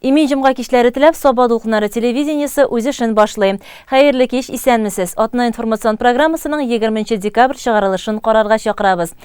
Имин җомга кичләре теләп, Саба дулкыннары телевидениесе үз эшен башлый. Хәерле кич, исәнмесез. Атна информацион программасының 20 декабрь чыгарылышын карарга чакырабыз.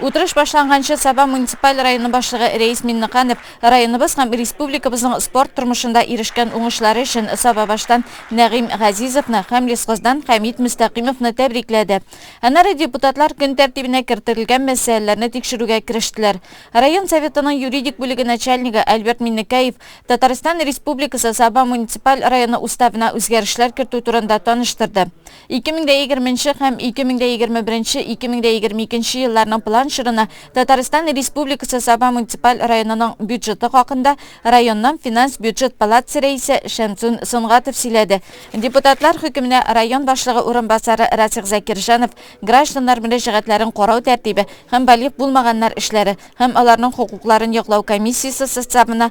Утырыш башланганчы Саба муниципаль районы башлыгы Рәис Миннеканов районыбыз һәм республикабызның спорт тормышында ирешкән уңышлары өчен Сабабаштан Нәгыйм Газизовны һәм Лесхоздан Хәмит Мөстәкыймовны тәбрикләде. Аннары депутатлар көн тәртибенә кертерлгән мәсьәләләрне тикшерүгә керештеләр. Район Советының юридик бүлеге начальнигы Альберт Миннекәев Татарстан Республикасы Саба муниципаль районы Уставына үзгәрешләр кертү турында таныштырды. Ике мең дә егерме нче һәм ике мең дә егерме беренче, ике мең дә егерме икенче елларның план чорына Татарстан Республикасы Саба муниципаль районының бюджеты хакында районның финанс-бюджет палатасы рәисе Шәмсун Сөнгатов сөйләде. Депутатлар хөкеменә район башлыгы урынбасары Расих Закирҗанов гражданнар мөрәҗәгатьләрен карау тәртибе һәм балигъ булмаганнар эшләре һәм аларның хокукларын яклау комиссиясе составына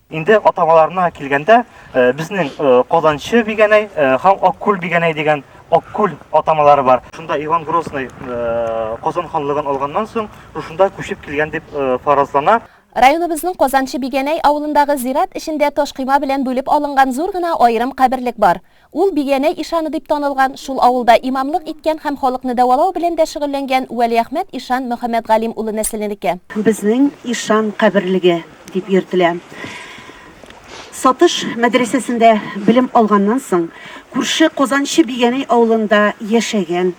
Инде атамаларына килгәндә, безнең Казанчы Бигәнәй һәм Аккүл Бигәнәй дигән Аккүл атамалары бар. Шунда Иван Грозный Казан ханлыгын алганнан соң, шушында күчеп килгән дип фаразлана. Районыбызның Казанчы Бигәнәй авылындагы зират эчендә ташкыйма белән бүлеп алынган зур гына аерым каберлек бар. Ул Биянәй ишаны дип танылган, шул авылда имамлык иткән һәм халыкны дәвалау белән дә шөгыльләнгән Вәлиәхмәт ишан Мөхәммәтгалим улы нәселенеке. Безнең ишан каберлеге дип йөртелә. Сатыш мәдрәсәсендә белем алганнан соң, күрше Казанчы Биянәй авылында яшәгән.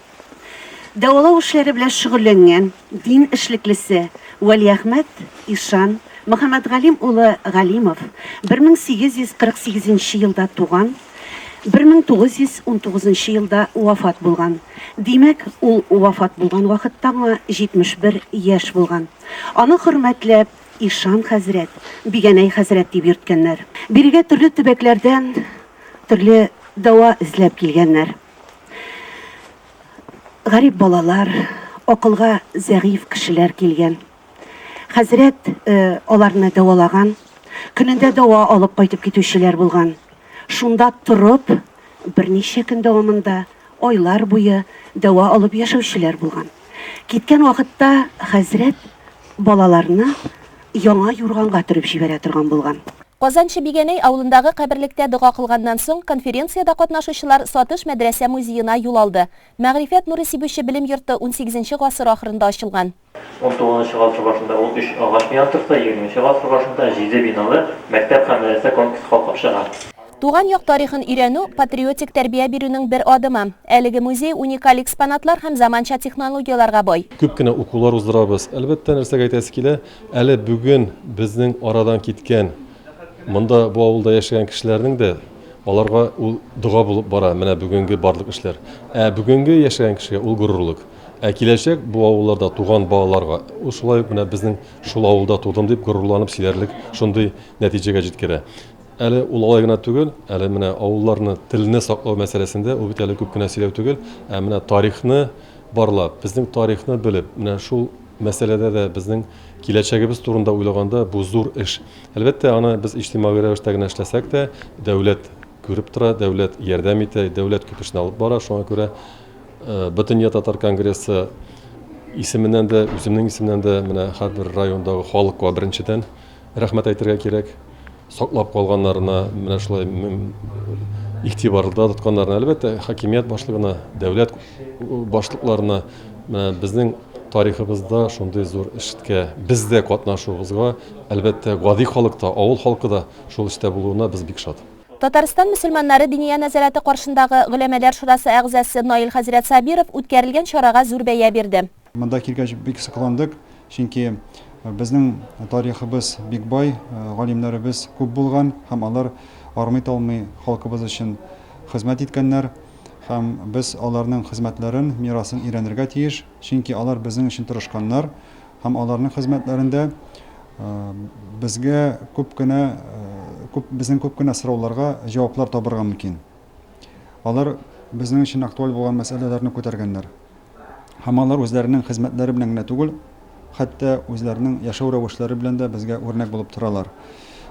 Дәвалау эшләре белән шөгыльләнгән дин эшлеклесе Вәлиәхмәт ишан Мөхәммәтгалим улы Галимов 1848 елда туган, 1919 елда вафат булган. Димәк, ул вафат булган вакытта аңа 71 яшь булган. Аны хөрмәтләп Ишан хәзрәт, Бигәнәй хәзрәт дип йөрткәннәр. Бирегә төрле төбәкләрдән төрле дәва эзләп килгәннәр. Гарип балалар, акылга зәгыйфь кешеләр килгән. Хәзрәт э, аларны дәвалаган. Көнендә дәва алып кайтып китүчеләр булган. Шунда торып, берничә көн дәвамында айлар буе дәва алып яшәүчеләр булган. Киткән вакытта хәзрәт балаларны яңа юрганга төреп җибәрә торган булган. Казанчы Бигәнәй авылындагы каберлектә дога кылганнан соң, конференциядә катнашучылар Сатыш мәдрәсә музеена юл алды. Мәгърифәт нуры сибүче белем йорты унсигезенче гасыр ахырында ачылган. Унтугызынчы гасыр башында ул өч агач бинаны торса, егерменче гасыр башында җиде биналы мәктәп һәм мәдрәсә комплексы калкып чыга. Туган як тарихын өйрәнү, патриотик тәрбия бирүнең бер адымы. Әлеге музей уникаль экспонатлар һәм заманча технологияләргә бай. Күп кенә укулар уздырабыз. Әлбәттә, нәрсәгә әйтәсе килә, әле бүген безнең арадан киткән, монда, бу авылда яшәгән кешеләрнең дә, аларга ул дога булып бара, менә бүгенге барлык эшләр. Ә бүгенге яшәгән кешегә ул горурлык. Ә киләчәк бу авылларда туган балаларга ул шулай ук менә безнең шул авылда тудым дип горурланып сөйләрлек шундый нәтиҗәгә җиткерә. Әле ул алай гына түгел, әле менә авылларны, телне саклау мәсьәләсендә ул бит әле күп кенә сөйләү түгел, ә менә тарихны барлап, безнең тарихны белеп, менә шул мәсьәләдә дә безнең киләчәгебез турында уйлаганда, бу зур эш. Әлбәттә, аны без иҗтимагый рәвештә генә эшләсәк тә, дәүләт күреп тора, дәүләт ярдәм итә, дәүләт күп эшне алып бара, шуңа күрә Бөтендөнья татар конгрессы исеменнән дә, үземнең исемнән дә менә һәрбер райондагы халыкка беренчедән, Рәхмәт әйтергә кирәк, саклап калганнарына, менә шулай игътибарда тотканнарына, әлбәттә, хакимият башлыгына, дәүләт башлыкларына безнең тарихыбызда шундый зур эшкә без дә катнашуыбызга, әлбәттә, гади халык та, авыл халкы да шул эштә булуына без бик шат. Татарстан мөселманнары Диния нәзарәте каршындагы Голәмәләр шурасы әгъзасы Наил хәзрәт Сабиров үткәрелгән чарага зур бәя бирде. Монда килгәч бик сокландык, чөнки безнең тарихыбыз бик бай, галимнәребез күп булган һәм алар армый-талмый халкыбыз өчен хезмәт иткәннәр һәм без аларның хезмәтләрен, мирасын өйрәнергә тиеш, чөнки алар безнең өчен тырышканнар һәм аларның хезмәтләрендә безгә күп кенә, күп, безнең күп кенә сорауларга җаваплар табырга мөмкин. Алар безнең өчен актуаль булган мәсьәләләрне күтәргәннәр. Һәм алар үзләренең хезмәтләре белән генә түгел, хәтта үзләренең яшәү рәвешләре белән дә безгә үрнәк булып торалар.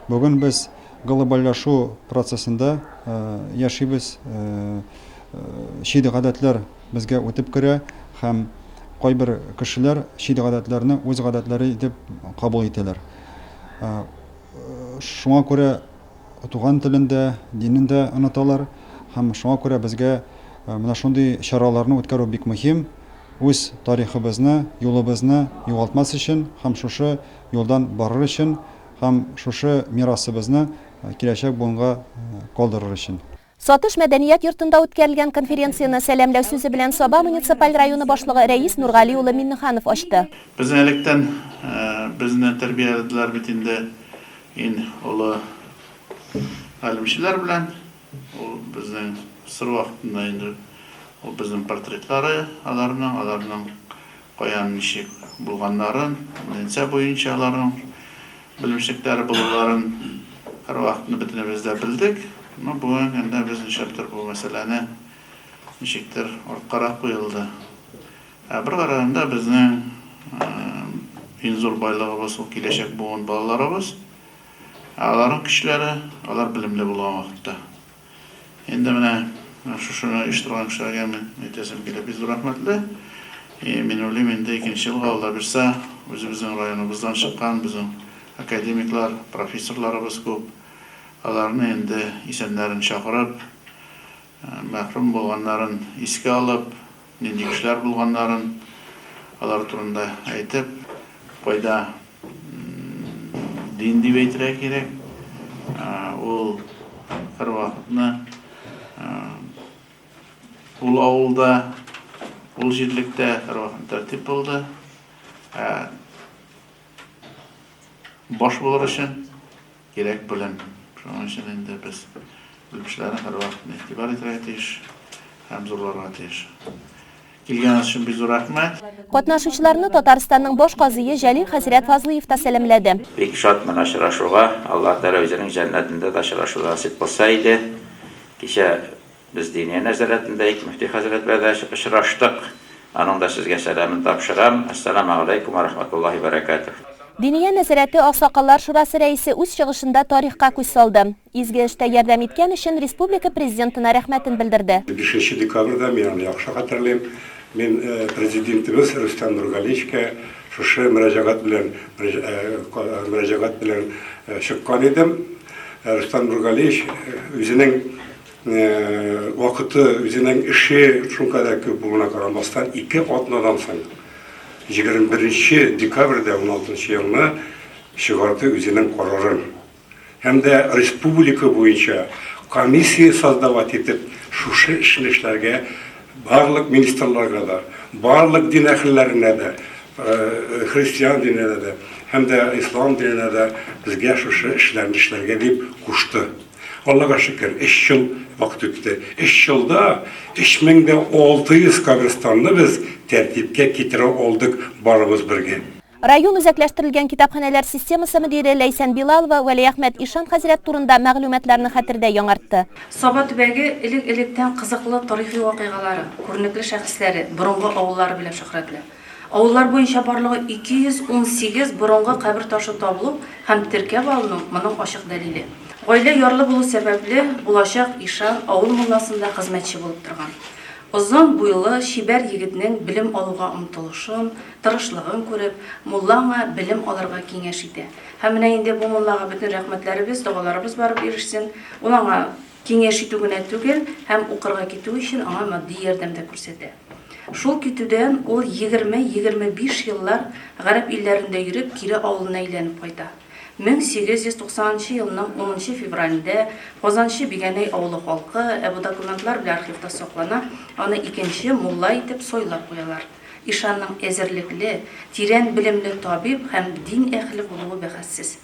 Бүген без глобальләшү процессында яшибез, чит гадәтләр безгә үтеп керә һәм кайбер кешеләр чит гадәтләрне үз гадәтләре итеп кабул итәләр. Шуңа күрә Туган телен дә, динен дә оныталар һәм шуңа күрә безгә менә шундый чараларны үткәрү бик мөһим, үз тарихыбызны, юлыбызны югалтмас өчен һәм шушы юлдан барыр өчен һәм шушы мирасыбызны киләчәк буынга калдырыр өчен. Сатыш мәдәният йортында үткәрелгән конференцияне сәламләү сүзе белән Саба муниципаль районы башлыгы Рәис Нургали улы Миннеханов ачты. Безне электән безне тәрбияләделәр бит инде ин олы галимчеләр белән. Ул безнең сыр вакытында инде ул безнең портретлары аларның, аларның каян ничек булганнарын, ннцә буенча аларның Белемчелекләре булуларын һәрвакыт бөтенебез дә белдек. Әмма бүген янә без ничәктер бу мәсьәләне ничектер арткарак куелды. Ә бер караганда безнең иң зур байлыгыбыз ул киләчәк буын балаларыбыз. Ә аларның көчләре, алар белемле булган вакытта. Инде менә шушыны оештырган кешеләргә мин әйтәсем килә, бик зур рәхмәтле. И мин уйлыйм, инде икенче елга, Алла бирсә, үзебезнең районыбыздан чыккан безнең академиклар, профессорларыбыз күп. Аларны инде исәннәрен чакырып, мәхрүм булганнарын искә алып, Нинди кешеләр булганнарын, алар турында әйтеп, кайда дин дип әйтергә кирәк, ул һәрвакытны ул авылда, ул җирлектә һәрвакытны тәртип булды. Баш булыр өчен. Кирәк белем. Шуның өчен инде без белгечләрне һәрвакыт игътибар итәргә тиеш һәм зурларга тиеш. Килгәнегез өчен бик зур рәхмәт. Катнашучыларны Татарстанның баш казые Җәлил хәзрәт Фазлыев та сәламләде. Бик шатмын очрашуга, Аллаһ Тәгалә үзенең җәннәтендә дә очрашу насыйп кылса иде. Кичә. Без Диния нәзарәтендә ике мөфти хәзрәт белән дә очраштык. Аның да сезгә сәламен тапшырам. Әссәламәү галәйкүм вә рәхмәтуллаһи вә бәрәкәтүһ. Диния нәзарәте Аксакаллар шурасы рәисе үз чыгышында тарихка күз салды. Изге эштә ярдәм иткән өчен республика Президентына рәхмәтен белдерде. Бишенче декабрьдә, мин аны яхшы хәтерлим, мин Президентыбыз Рөстәм Нургалиевичка шушы мөрәҗәгать белән мөрәҗәгать белән чыккан идем. Рөстәм Нургалиевич үзенең Вакыты, үзенең эше шулкадәр күп булуына карамастан, ике атнадан соң, 21 нче декабрьдә 16 елны чыгарды үзенең карарын һәм дә республика буенча комиссия создавать итеп, шушы эшне эшләргә барлык министрларга да, барлык дин әһелләренә дә, христиан диненә дә һәм дә ислам диненә дә безгә шушы эшләрне эшләргә дип кушты. Аллага шөкер, өч ел вакыт үтте. Өч елда 3600 каберстанны без тәртипкә китерә алдык барыбыз бергә. Район үзәкләштерелгән китапханәләр системасы мөдире Ләйсән Билалова Вәлиәхмәт ишан хәзрәт турында мәгълүматларны хәтердә яңартты. Саба төбәге элек-электән кызыклы тарихи вакыйгалары, күренекле шәхесләре, борынгы авыллары белән шөһрәтле. Авыллар буенча барлыгы 218 борынгы кабер ташын табылу һәм теркәп алыну моның ачык дәлиле. Гаилә ярлы булу сәбәпле, булачак ишан авыл мулласында хезмәтче булып торган. Озын буйлы, чибәр егетнең белем алуга омтылышын, тырышлыгын күреп, мулла аңа белем алырга киңәш итә. Һәм менә инде бу муллага бөтен рәхмәтләребез, догаларыбыз барып ирешсен. Ул аңа киңәш итү генә түгел, һәм укырга китү өчен аңа матди ярдәм дә күрсәтә. Шул китүдән ул егерме-егерме биш еллар гарәп илләрендә йөреп, кире авылына әйләнеп кайта. Мең сигез йөз туксан нчы елның унынчы февралендә Казанчы Бигәнәй авылы халкы, ә бу документлар белән архивта саклана, аны икенче мулла итеп сайлап куялар. Ишанның әзерлекле, тирән белемле табиб һәм дин әһеле булуы бәхәссез.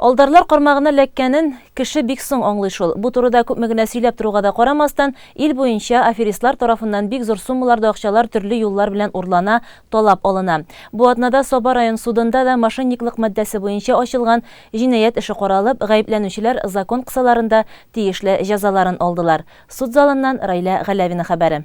Алдарлар кармагына эләккәнен кеше бик соң аңлый шул. Бу турыда күпме генә сөйләп торуга да карамастан, ил буенча аферистлар тарафыннан бик зур суммаларда акчалар төрле юллар белән урлана, талап алына. Бу атнада Саба район судында да мошенниклык маддәсе буенча ачылган җинаять эше каралып, гаепләнүчеләр закон кысаларында тиешле җәзаларын алдылар. Суд залыннан Раилә Галәвина хәбәре.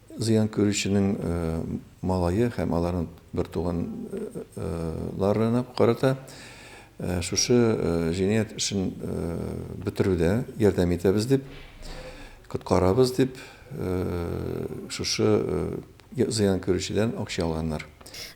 Зыян күрүченең малае һәм аларның бертуганнарына карата шушы җинаять эшен бетерүдә ярдәм итәбез дип, коткарабыз дип, шушы зыян күрүчедән акча алганнар.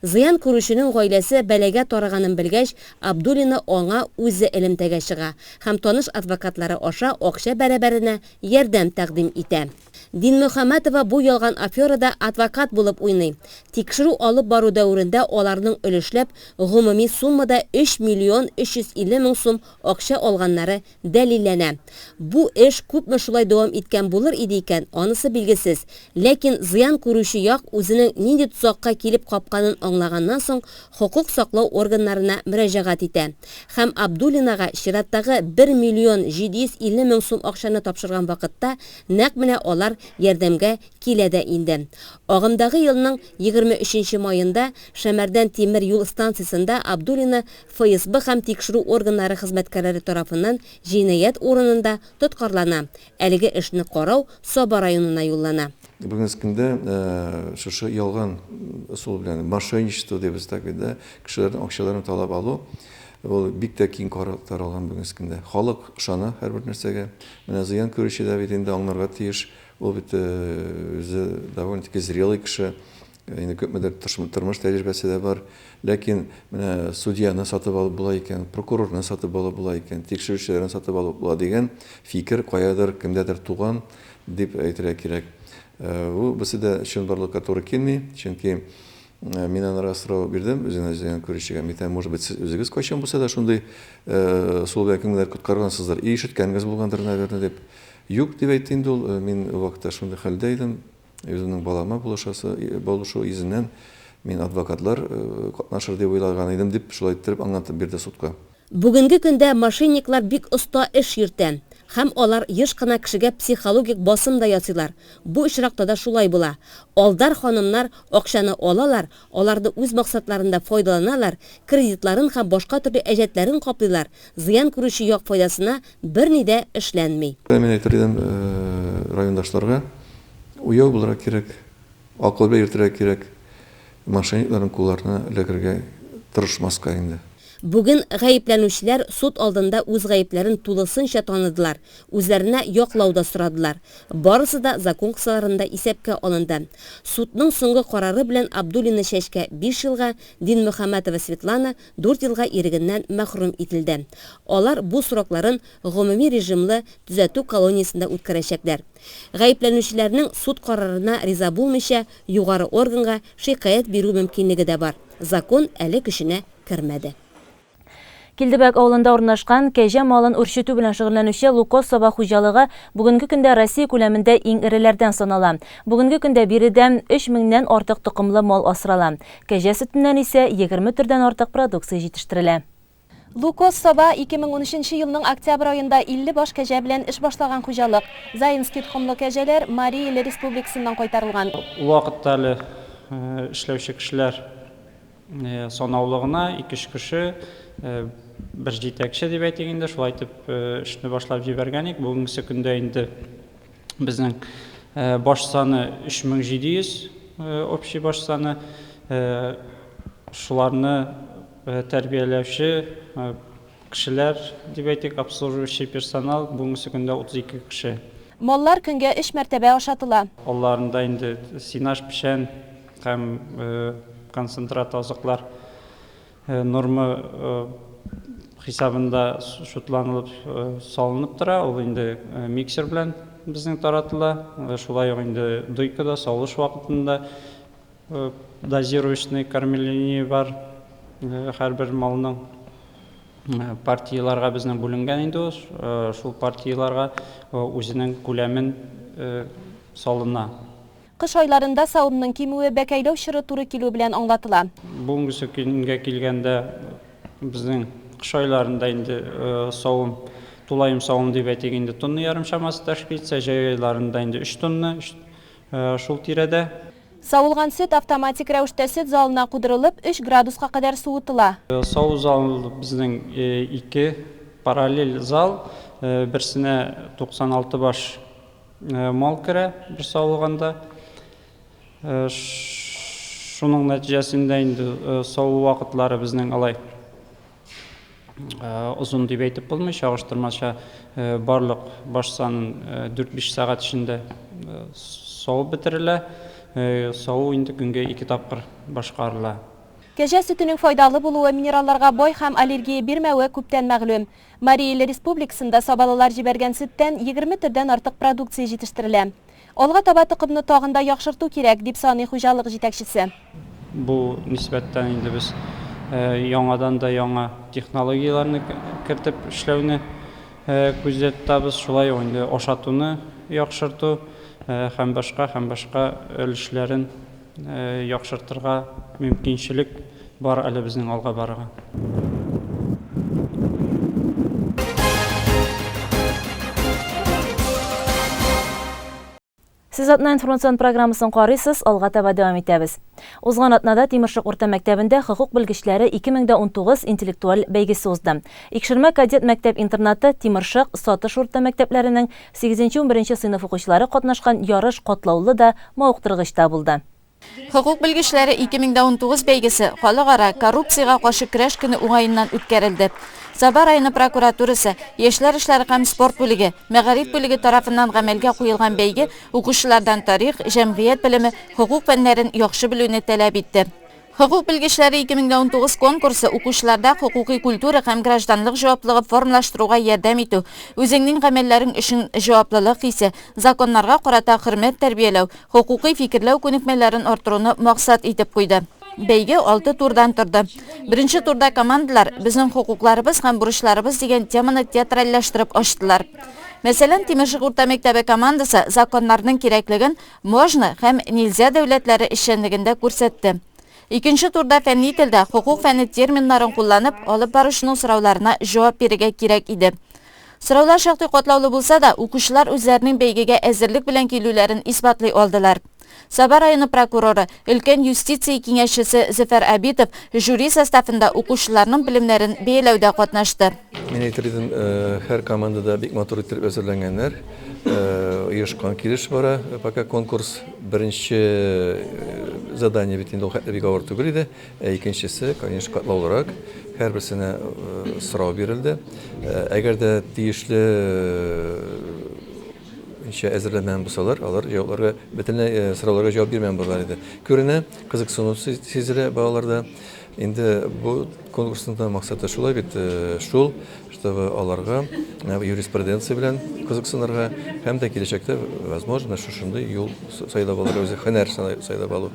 Зыян күрүченең гаиләсе бәлагә тарыганын белгәч, Абдуллина аңа үзе элемтәгә чыга һәм таныш адвокатлары аша акча бәрабәренә ярдәм тәкъдим итә. Динмөхәммәтова бу ялган аферада адвокат булып уйный. Тикшерү алып бару дәверендә аларның өлешләп гомуми суммада 3 миллион 350 мең сум акча алганнары дәлилләнә. Бу эш күпме шулай дәвам иткән булыр иде икән, анысы билгесез. Ләкин зыян күрүче як үзенең нинди тозакка килеп капканын аңлаганнан соң хокук саклау органнарына мөрәҗәгать итә һәм Абдуллинага чираттагы 1 миллион 750 мең сум акчаны тапшырган вакытта Нәкъ менә алар ярдәмгә килә дә инде. Агымдагы елның егерме өченче маенда Шәмәрдән тимер юл станциясендә Абдуллина ФСБ һәм тикшерү органнары хезмәткәрләре тарафыннан җинаять урынында тоткарлана, әлеге эшне карау Саба районына юллана. Бүгенге көндә шушы ялган ысул белән, мошенничество дибез так бит, да, кешеләрнең акчаларын талап алу, ул бик тә киң таралган бүгенге көндә. Халык ышана һәрбер нәрсәгә. Менә зыян күрүче дә бит инде аңнарга тиеш, ул бит үзе довольно-таки зрелый кеше, инде күпмедер тормыш тәҗрибәсе дә бар. Ләкин менә судьяны сатып алып була икән, прокурорны сатып алып була икән, тикшерүчеләрне сатып алып була дигән фикер каядыр, кемдәдер туган дип әйтергә кирәк. Бу берсе дә чынбарлыкка туры килми, чөнки Мин анарга сорау бирдем, үзен эзләгән күрүчегә. Митәм, может быть, сез үзегез кайчан булса да шундый э, сул белән кемнедер коткаргансыздыр, и ишеткәнгез булгандыр, наверное, дип. Юк, дип әйтте инде ул, мин вакытта шундый хәлдә идем. Үземнең балама булышасы, булышу йөзеннән мин адвокатлар э, катнашыр дип уйлаган идем, дип шулай иттереп аңлатып бирде судка. Бүгенге көндә мошенниклар бик оста эш йөртә һәм алар еш кына кешегә психологик басым да ясыйлар, бу очракта да шулай була. Алдар ханымнар акчаны алалар, аларны үз максатларында файдаланалар, кредитларын һәм башка төрле әҗәтләрен каплыйлар, зыян күрүче як файдасына берни дә эшләнми. Мин әйтер идем райондашларга, уяу булырга кирәк. Акылга йөртергә кирәк, мошенникларның кулларына эләгергә тырышмаска инде. Бүген гаепләнүчеләр суд алдында үз гаепләрен тулысынча таныдылар, үзләренә яклау да сорадылар. Барысы да закон кысаларында исәпкә алынды. Судның соңгы карары белән Абдуллина Чәчкә биш елга, Динмөхәммәтова Светлана дүрт елга ирегеннән мәхрүм ителде. Алар бу срокларын гомуми режимлы төзәтү колониясендә үткәрәчәкләр. Гаепләнүчеләрнең суд карарына риза булмыйча, югары органга шикаять бирү мөмкинлеге дә бар. Закон әле көченә кермәде. Килдебәк авылында урнашкан, кәҗә малын үрчетү белән шөгыльләнүче Лукоз саба хуҗалыгы бүгенге көндә Россия күләмендә иң эреләрдән санала. Бүгенге көндә биредә өч меңнән артык токымлы мал асрала. Кәҗә сөтеннән исә егерме төрдән артык продукция җитештерелә. Лукос Саба, 2013 елның октябрь аенда 50 баш кәҗә белән эш башлаган хуҗалык. Заинский тхомлы кәҗәләр Марий Эле Республикасыннан кайтарылган. Ул вакытта әле эшләүче кешеләр санаулы гына, ике-өч кеше, бер җитәкче дип әйтик инде, шулай итеп эшне башлап җибәргән идек. Бүгенгесе көндә инде безнең баш саны 3700, общий баш саны. Шуларны. Тәрбияләүче кешеләр, дип әйтик, обслуживающий персонал, бүгенге көндә 32 кеше. Маллар көнгә өч мәртәбә ашатыла. Алларында инде сенаж, печән һәм концентрат азыклар норма хисабында чутланылып салынып тора, ул инде миксер белән безнең таратыла, шулай ук инде дойкада, савыш вакытында. Дозирующный кормление бар һәрбер малның партияләргә безнең бүленгән инде ул шул партияләргә үзенең күләмен салына. Кыш айларында савымның кимүе бәкәйләү чоры туры килү белән аңлатыла. Бүгенге көнгә килгәндә безнең кыш айларында инде савым тулаем савым дип әйтик инде тонна ярым чамасы тәшкил итсә җәй айларында инде өч тонна Шул тирәдә. Савылган сөт автоматик рәвештә сөт залына кудырылып, өч градуска кадәр суытыла. Саву залы безнең ике параллель зал, берсенә 96 баш мал керә бер савылганда. Шуның нәтиҗәсендә инде саву вакытлары безнең алай озын дип әйтеп булмый, чагыштырмача барлык баш санын 4-5 сәгать эчендә савып бетерелә. Саву инде көнгә 2 тапкыр башкарыла. Кәҗә сөтенең файдалы булуы, минералларга бай һәм аллергия бирмәве күптән мәгълүм. Марий Ил Республикасында сабалылар җибәргән сөттән 20 төрдән артык продукция җитештерелә. Алга таба токымны тагын да яхшырту кирәк, дип саный хуҗалык җитәкчесе. Бу нисбәттән инде без яңадан да яңа технологияләрне кертеп эшләүне күздә тотабыз, шулай ук инде ашатуны яхшырту һәм башка, һәм башка өлешләрен яхшыртырга мөмкинчелек бар әле безнең алга барырга. Сез атна информацион программасын карыйсыз, алга таба дәвам итәбез. Узган атнада Тимершык урта мәктәбендә хокук белгечләре 2019 интеллектуаль бәйгесе узды. Икшермә кадет мәктәп-интернаты Тимершык, Сатыш урта мәктәпләренең Сигезенче-унберенче сыйныф укучылары катнашкан ярыш катлаулы да, мавыктыргыч та булды. Хокук белгечләре 2019 бәйгесе Халыкара коррупциягә каршы көрәш көне уңаеннан үткәрелде. Саба районы прокуратурасы, яшьләр эшләре һәм спорт бүлеге, мәгариф бүлеге тарафыннан гамәлгә куелган бәйге укучылардан тарих, җәмгыять белеме, хокук фәннәрен яхшы белүне таләп итте. Хокук белгечләре 2019 конкурсы укучыларда хокукый культура һәм гражданлык җаваплыгы формлаштыруга ярдәм итү, үзеңнең гамәлләрең өчен җаваплылык хисе, законнарга карата хөрмәт тәрбияләү, хокукый фикерләү күнекмәләрен арттыруны максат итеп куйды. Бәйге алты турдан торды. Беренче турда командалар Безнең хокукларыбыз һәм бурычларыбыз дигән теманы театральләштереп ачтылар. Мәсәлән, Тимершык урта мәктәбе командасы законнарның кирәклеген, Можно һәм нельзя дәүләтләре эшчәнлегендә күрсәтте. Икенче турда фәнни телдә хокук фәне терминнарын кулланып, алып баручының сорауларына җавап бирергә кирәк иде. Сораулар шактый катлаулы булса да, укучылар үзләренең бәйгегә әзерлек белән килүләрен исбатлый алдылар. Саба районы прокуроры, өлкән юстиция киңәшчесе Зөфәр Абитов жюри составында укучыларның белемнәрен бәяләүдә катнашты. Мин әйтер идем, һәр командада бик матур иттереп әзерләнгәннәр. Оешкан килеш бара. Пока конкурс беренче задание бит инде ул хәтле бик авыр түгел иде. Ә икенчесе, конечно, катлаулырак. Һәрберсенә сорау бирелде. Әгәр дә тиешле ничә әзерләнмәгән булсалар, алар җавапларга бөтенләй сорауларга җавап бирмәгән булырлар иде. Күренә, кызыксыну сизелә балаларда. Инде бу конкурсның да максаты шулай бит шул, чтобы аларга юриспруденция белән кызыксынырга һәм дә киләчәктә, возможно, шушындый юл сайлап алырга, үзе һөнәр сайлап алу.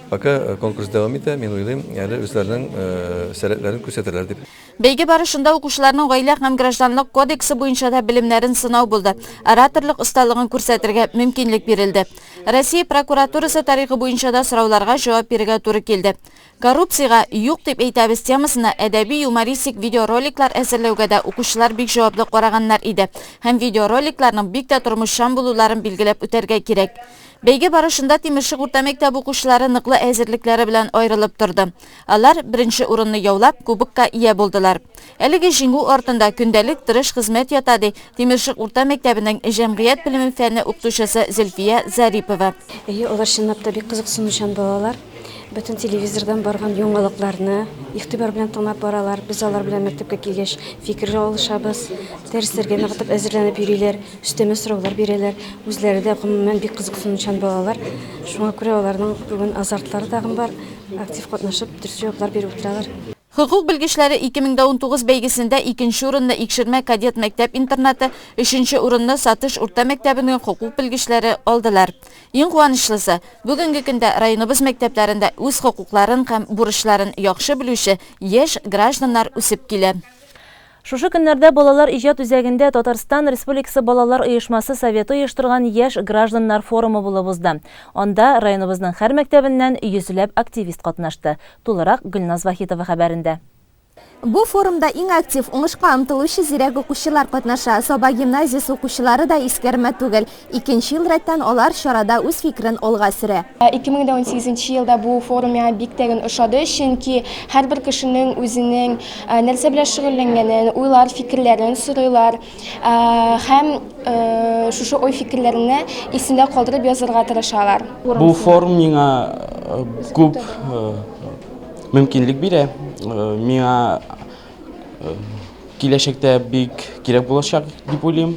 Пока конкурс дәвам итә, мин уйлыйм, әле үзләренең сәләтләрен күрсәтерләр дип. Бәйге барышында укучыларның Гаилә һәм гражданлык кодексы буенча да белемнәрен сынау булды, ораторлык осталыгын күрсәтергә мөмкинлек бирелде. Россия прокуратурасы тарихы буенча да сорауларга җавап бирергә туры килде. Коррупциягә юк дип әйтәбез темасына әдәби-юмористик видеороликлар әзерләүгә дә укучылар бик җаваплы караганнар иде һәм видеороликларның бик тә тормышчан булуларын билгеләп үтәргә кирәк. Бәйге барышында Тимершык урта мәктәбе укучылары ныклы әзерлекләре белән аерылып торды. Алар, беренче урынны яулап, кубокка ия булдылар. Әлеге җиңү артында көндәлек тырыш хезмәт ята, ди Тимершык урта мәктәбенең җәмгыять белеме фәне укытучысы Зөлфия Зарипова. Әйе, алар чынлап та бик кызыксынучан балалар. Бөтен телевизордан барган яңалыкларны игътибар белән тыңлап баралар. Без алар белән мәктәпкә килгәч фикер алышабыз. Дәресләргә ныгытып әзерләнеп йөриләр. Өстәмә сораулар бирәләр. Үзләре дә гомумән бик кызыксынучан балалар. Шуңа күрә аларның бүген азартлары тагын бар. Актив катнашып, дөрес җаваплар биреп утыралар. Хокук белгечләре 2019 бәйгесендә икенче урынны Икшермә кадет мәктәп-интернаты, өченче урынны Сатыш урта мәктәбенең хокук белгечләре алдылар. Иң куанычлысы, бүгенге көндә районыбыз мәктәпләрендә үз хокукларын һәм бурычларын яхшы белүче яшь гражданнар үсеп килә. Шушы көннәрдә Балалар иҗат үзәгендә Татарстан Республикасы Балалар оешмасы Советы оештырган Яшь гражданнар форумы булып узды. Анда районыбызның һәр мәктәбеннән йөзләп активист катнашты. Тулырак Гөлназ Вахитова хәбәрендә. Бу форумда иң актив, уңышка омтылучы зирәк укучылар катнаша. Саба гимназиясе укучылары да искәрмә түгел. Икенче ел рәттән алар чарада үз фикерен алга сөрә. 2018 елда бу форум миңа бик тәген ошады, чөнки һәрбер кешенең үзенең нәрсә белән шөгыльләнгәнен, уйлар, фикерләрен сорыйлар һәм шушы ой-фикерләрне исендә калдырып язырга тырышалар. Бу форум миңа күп мөмкинлек бирә, миңа киләчәктә бик кирәк булачак дип уйлыйм.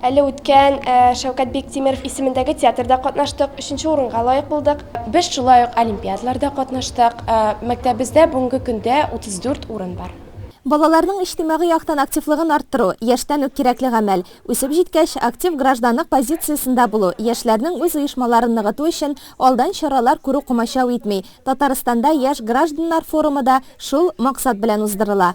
Әле үткән Шәүкәт Биктимеров исемендәге театрда катнаштык, өченче урынга лаек булдык. Без шулай ук олимпиадаларда катнаштык. Мәктәбебездә бүгенге көндә 34 урын бар. Балаларның иҗтимагый яктан активлыгын арттыру, яшьтән үк кирәкле гамәл. Үсеп җиткәч, актив гражданлык позициясендә булу, яшьләрнең үз оешмаларын ныгыту өчен алдан чаралар күрү комачау итми. Татарстанда Яшь гражданнар форумы да шул максат белән уздырыла.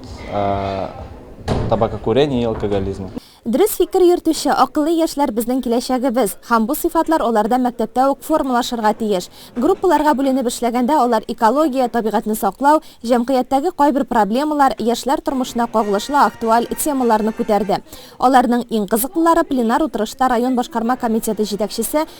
табакокурения и алкоголизма. Дөрес фикер йөртүче, акыллы яшьләр безнең киләчәгебез, һәм бу сыйфатлар аларда мәктәптә үк формалашырга тиеш. Группаларга бүленеп эшләгәндә алар экология, табигатьне саклау, җәмгыятьтәге кайбер проблемалар, яшьләр тормышына кагылышлы актуаль темаларны күтәрде. Аларның иң кызыклылары пленар утырышта район башкарма комитеты җитәкчесе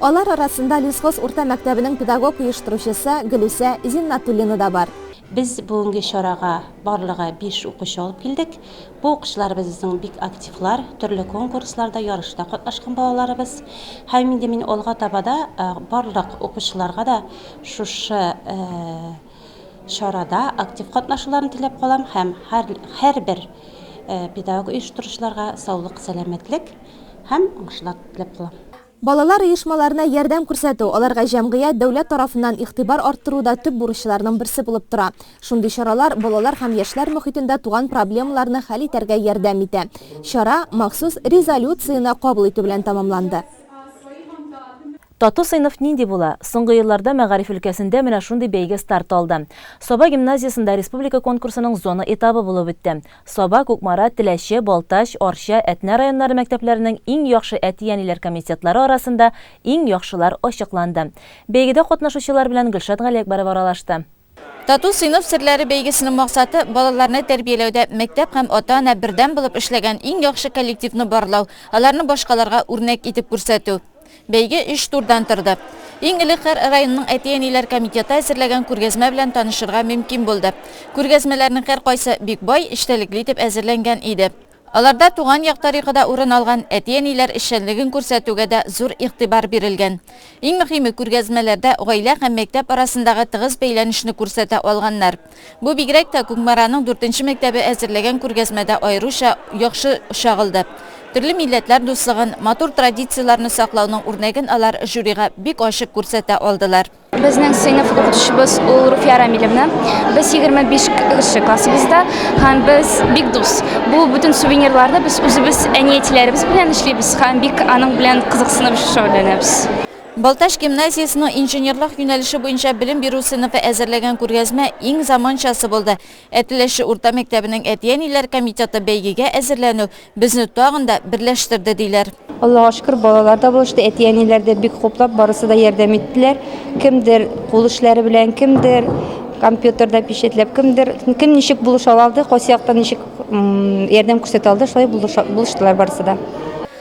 Алар арасында Лесхоз урта мәктәбенең педагог-оештыручысы Гөлүсә Зиннатуллина да бар. Без бүгенге чарага барлыгы биш укучы алып килдек. Бу укучыларыбызның бик активлар, төрле конкурсларда, ярышта катнашкан балаларыбыз. Һәм инде мин алга таба да барлык укучыларга да шушы чарада актив катнашуларын теләп калам һәм һәрбер педагог-оештыручыларга саулык, сәламәтлек һәм уңышлар теләп калам. Балалар оешмаларына ярдәм күрсәтү, аларга җәмгыять, дәүләт тарафыннан игътибар арттыру да төп бурычларның берсе булып тора. Шундый чаралар балалар һәм яшьләр мохитендә туган проблемаларны хәл итәргә ярдәм итә. Чара махсус резолюцияне кабул итү белән тәмамланды. Тату сыйныф нинди була? Соңгы елларда мәгариф өлкәсендә менә шундый бәйге старт алды. Саба гимназиясендә республика конкурсының зона этабы булып үтте. Саба, Кукмара, Теләче, Балтач, Арча, Әтнә районнары мәктәпләренең иң яхшы әти-әниләр комитетлары арасында иң яхшылар ачыкланды. Бәйгедә катнашучылар белән Гөлшат Галиәкбәров аралашты. Тату сыйныф серләре бәйгесенең максаты, балаларны тәрбияләүдә мәктәп һәм ата-ана бердәм булып эшләгән иң яхшы коллективны барлау, аларны башкаларга үрнәк итеп күрсәтү. Бәйге өч турдан торды. Иң элек һәр районның әти-әниләр комитеты әзерләгән күргәзмә белән танышырга мөмкин булды. Күргәзмәләрнең һәркайсы бик бай, эчтәлекле итеп әзерләнгән иде. Аларда туган як тарихы да урын алган, әти-әниләр эшчәнлеген күрсәтүгә дә зур игътибар бирелгән. Иң мөһиме, күргәзмәләрдә гаилә һәм мәктәп арасындагы тыгыз бәйләнешне күрсәтә алганнар. Бу бигрәк тә Кукмараның дүртенче мәктәбе әзерләгән күргәзмәдә аеруча яхшы чагылды. Төрле милләтләр дуслыгын, матур традицияләрне саклауның үрнәген алар жюрига бик ачык күрсәтә алдылар. Безнең сыйныф укытучыбыз ул Руфия Рамилевна. Без егерме биш кеше классыбызда һәм без бик дус. Бу бөтен сувенирларны без үзебез әни-әтиләребез белән эшлибез һәм бик аның белән кызыксынып шөгыльләнәбез. Балтач гимназиясенең инженерлык юнәлеше буенча белем бирү сыйныфы әзерләгән күргәзмә иң заманчасы булды. Әтеләше урта мәктәбенең әти-әниләр комитеты бәйгегә әзерләнү безне тагын да берләштерде, диләр. Аллага шөкер, балалар да булышты, әти-әниләр дә бик хуплап, барысы да ярдәм иттеләр. Кемдер кул эшләре белән, кемдер компьютерда пичәтләп, кемдер кем ничек булыша алды, кайсы яктан ничек ярдәм күрсәтә алды, шулай булыштылар барысы да.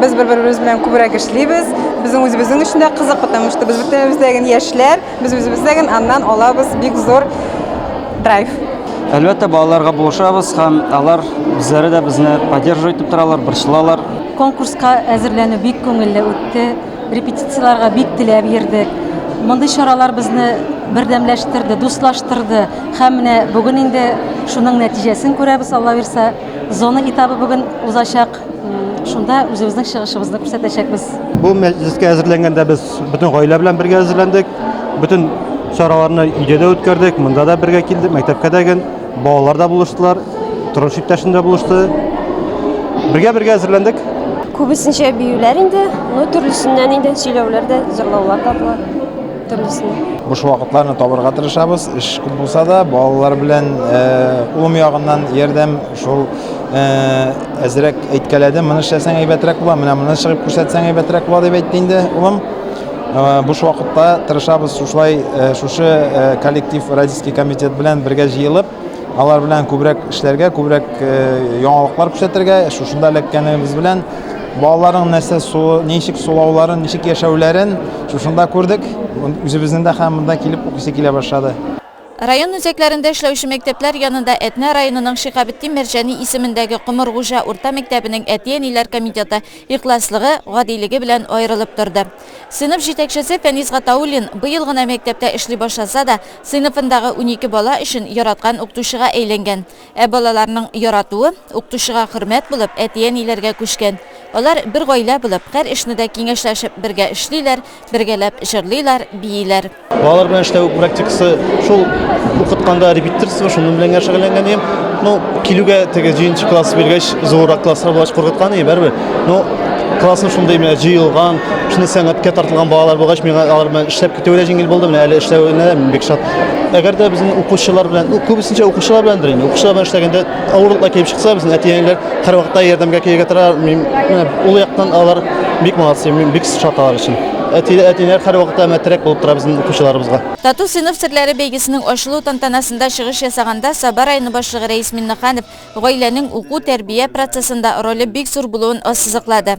Без бер-беребез белән күбрәк эшлибез. Безнең үзебезнең өчен дә кызык, потому что без бөтенебездә генә яшьләр, без үзебездә генә аннан алабыз бик зур драйв. Әлбәттә, балаларга булышабыз һәм алар үзләре дә безне поддерживать итеп торалар, борчылалар. Конкурска әзерләнү бик күңелле үтте. Репетицияләргә бик теләп йөрдек. Мондый чаралар безне бердәмләштерде, дуслаштырды. Һәм менә бүген инде шуның нәтиҗәсен күрәбез, Аллабирса. Зона этабы бүген узачак. Шунда үзебезнең чыгышыбызны күрсәтәчәкбез. Бу мәҗлескә әзерләнгәндә без бөтен гаилә белән бергә әзерләндек. Бөтен чараларны өйдә дә үткәрдек, монда да бергә килдек, мәктәпкә дә гел балалар да булыштылар, тормыш иптәшем дә булышты. Бергә-бергә әзерләндек. Күбесенчә биюләр инде, ну төрлесеннән инде сөйләүләр дә, җырлаулар да була. Төрлесеннән. Буш вакытларны табарга тырышабыз, эш күп булса да, балалар белән улым ягыннан ярдәм Шул әзрәк әйткәләде, моны эшләсәң әйбәтрәк була, менә моны чыгып күрсәтсәң әйбәтрәк була дип әйтте инде улым. Буш вакытта тырышабыз шушылай шушы коллектив родительский комитет белән бергә җыелып, алар белән күбрәк эшләргә, күбрәк яңалыклар күрсәтергә, шушында эләккәнебез белән балаларның нәрсә суы, ничек сулауларын, ничек яшәүләрен шушында күрдек. Үзебезнең дә һәм монда килеп укыйсы килә башлады. Район үзәкләрендә эшләүче мәктәпләр янында Әтнә районының Шиһабетдин Мәрҗани исемендәге Комыргуҗа урта мәктәбенең әти-әниләр комитеты ихласлыгы, гадилеге белән аерылып торды. Сыйныф җитәкчесе Фәнис Гатауллин, быел гына мәктәптә эшли башласа да, сыйныфындагы унике бала өчен яраткан укытучыга әйләнгән. Ә балаларның яратуы, укытучыга хөрмәт булып, әти-әниләргә күчкән. Алар бер гаилә булып, һәр эшне дә киңәшләшеп бергә эшлиләр, бергәләп җырлыйлар, бииләр. Балалар белән эшләү практикасы шул укытканда репетиторство, шуның белән генә шөгыльләнгән идем. Ну, килүгә теге җиденче класс биргәч, зуррак класслар булгач куркыткан идем, бәрбер. Ну, классым шундый менә җыелган, шундый сәнгатькә тартылган балалар булгач, миңа алар белән эшләп китүе дә җиңел булды, менә әле эшләвенә дә мин бик шат. Әгәр дә безнең укучылар белән, күбесенчә укучылар беләндер инде, укучылар белән эшләгәндә авырлыклар килеп чыкса, безнең әти-әниләр һәрвакытта ярдәмгә килергә тора. Мин менә ул яктан алар бик молодцы, мин бик шат алар өчен. Әти-әниләр һәрвакытта менә терәк булып тора безнең укучыларыбызга. Тату сыйныф серләре бәйгесенең ачылу тантанасында чыгыш ясаганда Саба районы башлыгы Рәис Миннеханов гаиләнең уку-тәрбия процессында роле бик зур булуын ассызыклады.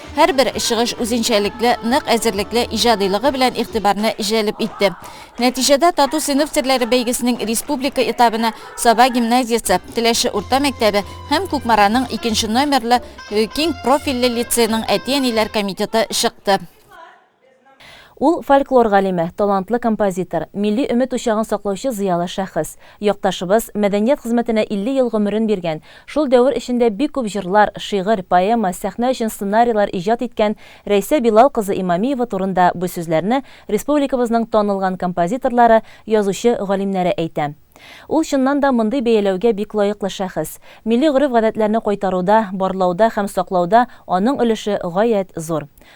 Һәрбер чыгыш үзенчәлекле, нык әзерлекле иҗадыйлыгы белән игътибарны җәлеп итте. Нәтиҗәдә Тату сыйныф серләре бәйгесенең республика этабына Саба гимназиясе, Теләче урта мәктәбе һәм Кукмараның икенче номерлы киң профильле лицееның әти-әниләр комитеты чыкты. Ул, фольклор галиме, талантлы композитор, милли өмет учагын саклаучы зыялы шәхес. Якташыбыз, мәдәният хезмәтенә 50 ел гомерен биргән, шул дәвер эчендә бик күп җырлар, шигырь, поэма, сәхнә өчен сценарийлар иҗат иткән Рәйсә Билал кызы Имамиева турында бу сүзләрне республикабызның танылган композиторлары, язучы, галимнәре әйтә. Ул чыннан да мондый бәяләүгә бик лаеклы шәхес. Милли гореф-гадәтләрне кайтаруда, барлауда һәм саклауда аның өлеше гаять зур.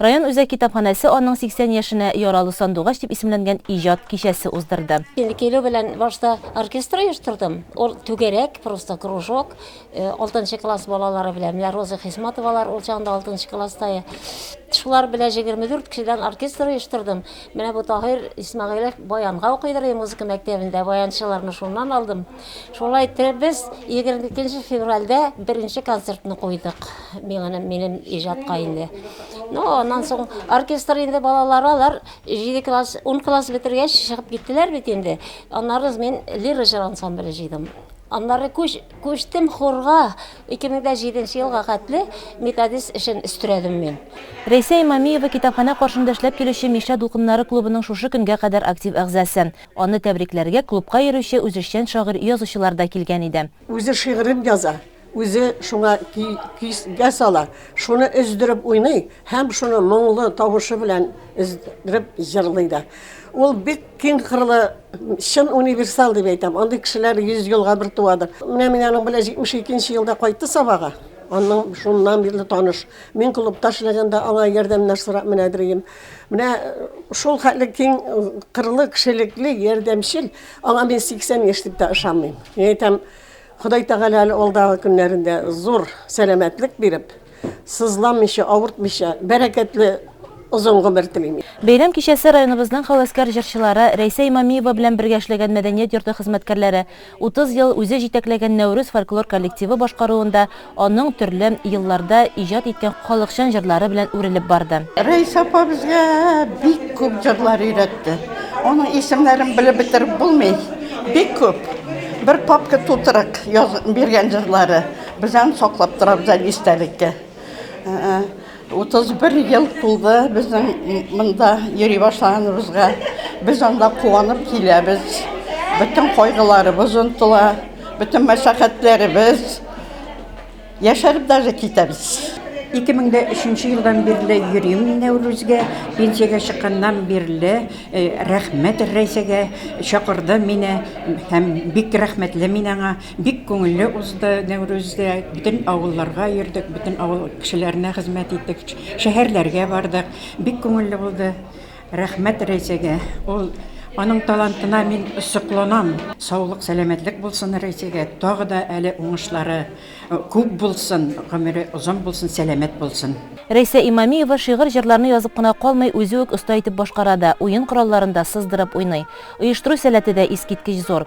Район үзәк китапханәсе аның 80 яшенә Яралы сандугач дип исемләнгән иҗат кичәсе уздырды. Инде килү белән башта оркестр оештырдым. Ул түгәрәк, просто кружок. Алтынчы класс балалары белән, менә Роза Хисматовалар ул чагында алтынчы класста. Шулар белән 24 кешедән оркестр оештырдым. Менә бу Таһир Исмәгыйлев баянга укыйдыр иде музыка мәктәбендә, баянчыларны шуннан алдым. Шулай итеп без 22 февральдә беренче концертны куйдык. Миңа минем иҗатка инде. Ну, аннан соң оркестр инде балалар алар 7 класс, 10 класс бетергәч чыгып киттеләр бит инде. Аннары мин лира җыр ансамбле җыйдым. Аннары күч, күчтем хорга 2007 елга хәтле методист эшен өстерәдем мин. Рәйсә Имамиева китапханә каршында эшләп килүче Мишә дулкыннары клубының шушы көнгә кадәр актив әгъзасы. Аны тәбрикләргә клубка йөрүче үзешчән шагыйрь-язучылар да килгән иде. Үзе шигырен яза, үзе шуңа көй-көйгә сала, шуны өздереп уйный һәм шуны моңлы тавышы белән өздереп җырлый да. Ул бик киң кырлы, чын универсал дип әйтәм. Андый кешеләр йөз елга бер туадыр. Менә мин аның белән 72 нче елда кайтты Сабага. Аннан шуннан бирле таныш. Мин клубта эшләгәндә аңа ярдәмнәр сорап менә йөрим. Менә шул хәтле киң кырлы, кешелекле, ярдәмчел. Аңа мин 80 яшь дип тә ышанмыйм. Мин әйтәм, Ходай Тәгалә әле алдагы көннәрендә зур сәламәтлек биреп, сызламыйча, авыртмыйча, бәрәкәтле озын гомер телим. Бәйрәм кичәсе районыбызның һәвәскәр җырчылары Рәйсә Имамиева белән бергә эшләгән мәдәният йорты хезмәткәрләре, Утыз ел үзе җитәкләгән Нәүрүз фольклор коллективы башкаруында аның төрле елларда иҗат иткән халыкчан җырлары белән үрелеп барды. Рәис апа безгә бик күп җырлар өйрәтте. Аның исемнәрен белеп бетереп булмый, бик күп. Бер папка тутырык язып биргән җырлары. Без аны саклап торабыз әле истәлеккә. 31 ел тулды безнең монда йөри башлаганыбызга. Без анда куанып киләбез. Бөтен кайгыларыбыз онтыла, бөтен мәшәкатьләребез. Яшәреп даже китәбез. 2003 елдан бирле йөрим мин Нәүрүзгә. Пенсиягә чыкканнан бирле э, рәхмәт Рәйсәгә чакырды мине һәм бик рәхмәтле мин аңа. Бик күңелле узды Нәүрүз дә. Бөтен авылларга йөрдек, бөтен авыл кешеләренә хезмәт иттек, шәһәрләргә бардык. Бик күңелле булды. Рәхмәт Рәйсәгә. Ул, аның талантына мин сокланам. Саулык, сәламәтлек булсын Рәйсәгә. Тагы да әле уңышлары күп булсын, гомере озын булсын, сәламәт булсын. Рәйсә Имамиева шигырь-җырларны язып кына калмый, үзе үк оста итеп башкара да, уен коралларын да сыздырып уйный. Оештыру сәләте дә искиткеч зур.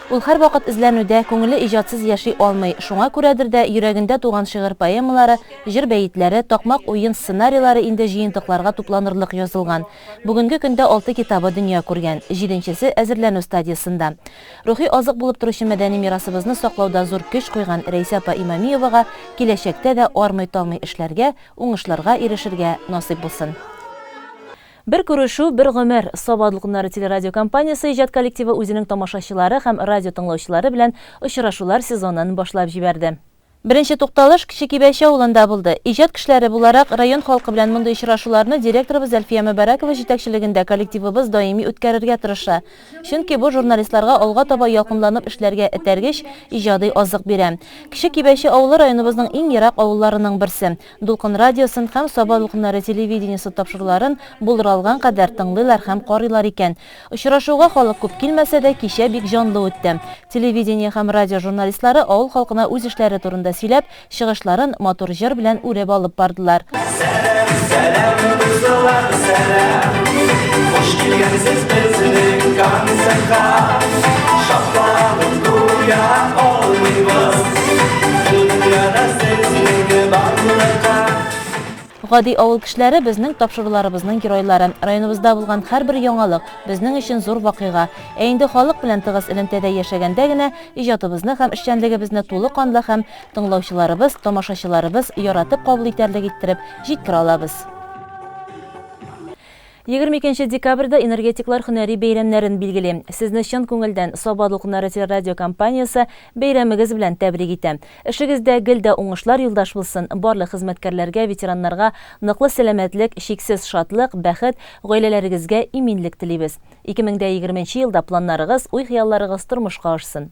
Ул һәрвакыт эзләнүдә, күңеле иҗатсыз яши алмый, шуңа күрәдер дә, йөрәгендә туган шигырь-поэмалары, җыр бәетләре, такмак уен сценарийлары инде җыентыкларга тупланырлык язылган. Бүгенге көндә алты китабы дөнья күргән, җиденчесе әзерләнү стадиясендә. Рухи азык булып торучы мәдәни мирасыбызны саклауда зур көч куйган Рәйсә апа Имамиевага киләчәктә дә армый-талмый эшләргә, уңышларга ирешергә насыйп булсын. Бер күрешү, бер гомер! Саба дулкыннары телерадиокомпаниясе иҗат коллективы үзенең тамашачылары һәм радиотыңлаучылары белән очрашулар сезонын башлап җибәрде. Беренче тукталыш Кече Кибәче авылында булды. Иҗат кешеләре буларак, район халкы белән мондый очрашуларны директорыбыз Әлфия Мөбарәкова җитәкчелегендә коллективыбыз даими үткәрергә тырыша. Чөнки бу журналистларга алга таба ялкынланып эшләргә этәргеч, иҗади азык бирә. Кече Кибәче авылы районыбызның иң ерак авылларының берсе. Дулкын радиосын һәм Саба дулкыннары телевидениесе тапшыруларын булдыра алган кадәр тыңлыйлар һәм карыйлар икән. Очрашуга халык күп килмәсә дә, кичә бик җанлы үтте. Телевидение һәм радио журналистлары авыл халкына үз эшләре турында сөйләп, чыгышларын матур җыр белән үреп алып бардылар. Сәлам, сәлам, дуслар, сәлам! Хуш килгәнсез безнең концертка! Шатланып. Гади авыл кешеләре безнең тапшыруларыбызның геройлары. Районыбызда булган һәрбер яңалык, безнең өчен зур вакыйга. Ә инде халык белән тыгыз элемтәдә яшәгәндә генә иҗатыбызны һәм эшчәнлегебезне тулы канлы һәм тыңлаучыларыбыз, тамашачыларыбыз яратып кабул итәрлек иттереп җиткерә алабыз. Егерме икенче декабрьдә энергетиклар һөнәри бәйрәмнәрен билгели. Сезне чын күңелдән Саба дулкыннары телерадиокомпаниясе бәйрәмегез белән тәбрик итә. Эшегездә гел дә уңышлар юлдаш булсын, барлык хезмәткәрләргә, ветераннарга ныклы сәламәтлек, чиксез шатлык, бәхет, гаиләләрегезгә иминлек телибез. Ике мең дә егерменче елда планнарыгыз, уй-хыялларыгыз тормышка ашсын!